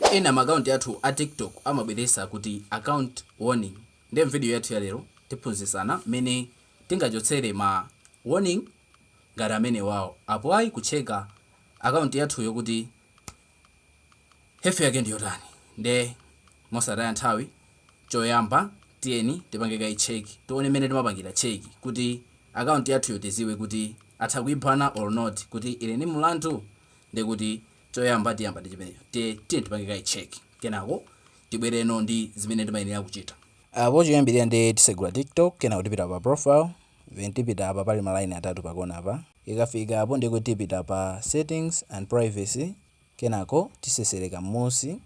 Ena ma account athu a TikTok amabweresa kuti account warning nde mvideo yathu ya lero tiphunzisana mmene tingachotsere ma warning ngati amenewao apo ayi kutcheka account yathuyo kuti health yake ndiyotani nde mosataya nthawi choyamba tiyeni tipange kaye check tione mmene timapangira check kuti account yathuyo tiziwe kuti atha kuibana or not kuti ili ndi mlandu ndekuti Choyamba tiyamba ndi chimenecho. Nde tiyeni tipange kaye check, kenako tibwereno ndi zimene timayenera kuchita. Apo choyambirira nde tisegula TikTok, kenako tipita pa profile, then tipita apa pali ma line atatu pa kona apa, ikafika apo ndiye kuti tipita pa settings and privacy, kenako tiseseleka mmunsi,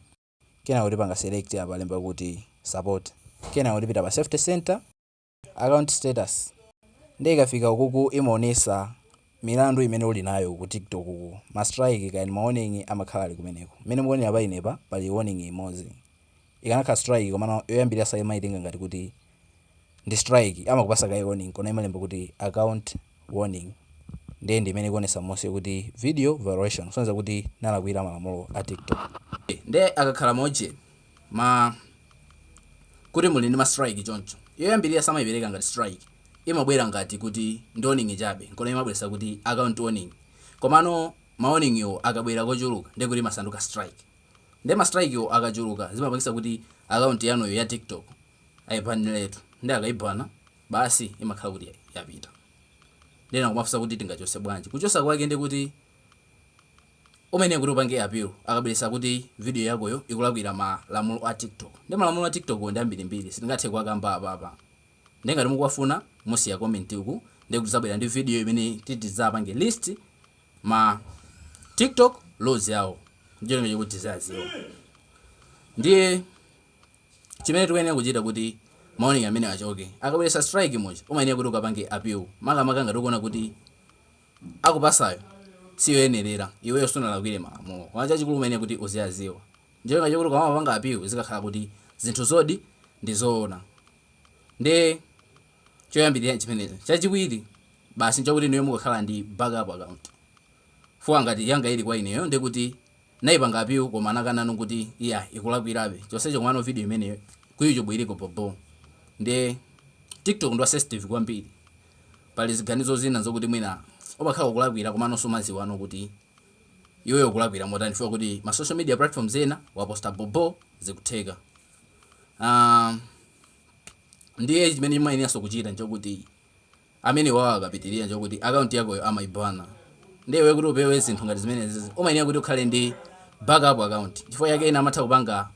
kenako tipanga select apa alemba kuti support, kenako tipita pa safety center, account status nde ikafika ukuku imaonesa milandu imene uli nayo uku TikTok uku ma strike kaya ndi ma warning amakhala ali kumeneko. Mmene mukuonera pa inepa pali warning imodzi. Ikanakha strike komano yoyambirira saimaitenga ngati kuti ndi strike amakupasa kaye warning nkona imalemba kuti account. warning ndiye ndi imene ikuonesa mmunsi kuti video violation kusonyeza kuti nalakwira malamulo a TikTok. Nde akakhala ma uje ma kuti muli ndi ma strike choncho yoyambirira samaipereka ngati strike imabwera ngati kuti ndi warning chabe nkona imabweresa kuti account warning komano ma warning yo akabwera kochuluka nde kuti amasanduka strike nde ma strike yo akachuluka zimapangisa kuti account yanuyo ya TikTok ayibaneletu nde akaibana basi imakhala kuti yapita. Nde ena akumafunsa kuti tingachose bwanji? Kuchosa kwake ndiye kuti umayenera kuti upange appeal akabweresa kuti video yakoyo ikulakwira malamulo a TikTok. Ndiye malamulo a TikTok wo ndi ambirimbiri sitingathe kuwakamba apapa. Ndiye ngati mukuwafuna musiya comment uku ndiye kuti tidzabwera ndi video imene titi tizapange list ma TikTok laws yawo. Ndicho cholinga choti tiziyadziwa. Ndiye chimene tikuyenera kuchita kuti ma warning amenewa achoke. Akabweresa strike muja umayenera kuti ukapange appeal makamaka ngati ukuona kuti akupasayo siyoyenerera iweyo sunalakwire malamulo koma chachikulu umayenera kuti uziyaziwa ndicholinga chokuti ukamapanga appeal zikakhala kuti zinthu zoonadi ndi zoona ndi choyambirira chimenecho. Chachiwiri basi nchakuti inuyo mukakhala ndi backup account fuwa ngati yanga ili kwa ineyo ndikuti Naipanga appeal koma anakananso kuti iyayi ikulakwirabe chonsecho komano video imeneyo ku youtube iliko bho bho nde tiktok ndi wa sensitive kwambiri pali ziganizo zina zokuti mwina umakhala ukulakwira komano sumaziwano kuti iweyo ukulakwira motani chifukwa kuti ma social media platforms ena waposta bho bho zikutheka aah ndiye chimene mumayeneranso kuchita nchokuti amenewawo akapitilira nchokuti account yakoyo amaibana ndiye iwe kuti upewe zinthu ngati zimenezizi umayenera kuti ukhale ndi back up account chifukwa chake ena amatha kupanga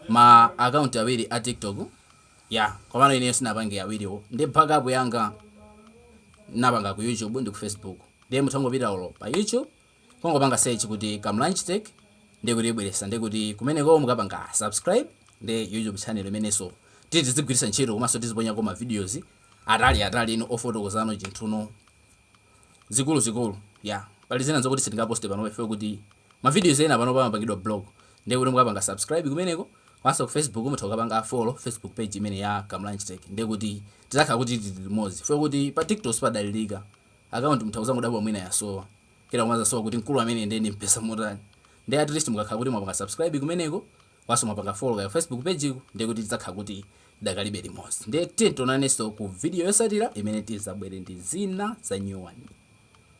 ma account awiri a tiktok ya komano ineyo sinapange awiriwo ndiye back up yanga napanga ku youtube ndi ku facebook ndiye mutha kungopita olo pa youtube Kungopanga search kuti Kamlanj Tech ndiye kuti ibweresa ndiye kuti kumeneko mukapanga subscribe ndiye YouTube channel imenenso tizigwiritsa ntchito komanso tiziponyako ma videos atali ataliko ofotokozano zinthu zikuluzikulu ya pali zina zokuti sitingaposte pano chifukwa choti ma videos ena pano amapangidwa block ndiye kuti mukapanga subscribe kumeneko komanso ku Facebook mutha kukapanga follow Facebook page imeneyo ya Kamlanj Tech ndiye kuti tizakhala kuti tili limodzi chifukwa choti pa TikTok sipadalilika account mutha kuzangodabwa mwina yasowa kenako mudzasowa kuti mkulu amene uja ndimpeza motani ndiye at least mukakhala kuti mwapanga subscribe kumeneko komanso mwapanga follow ka facebook page ko ndiye kuti tidzakhala kuti tidakalibe limodzi ndiye tiye tionanenso ku video yosatira imene tizabwere ndi zina za nyuwani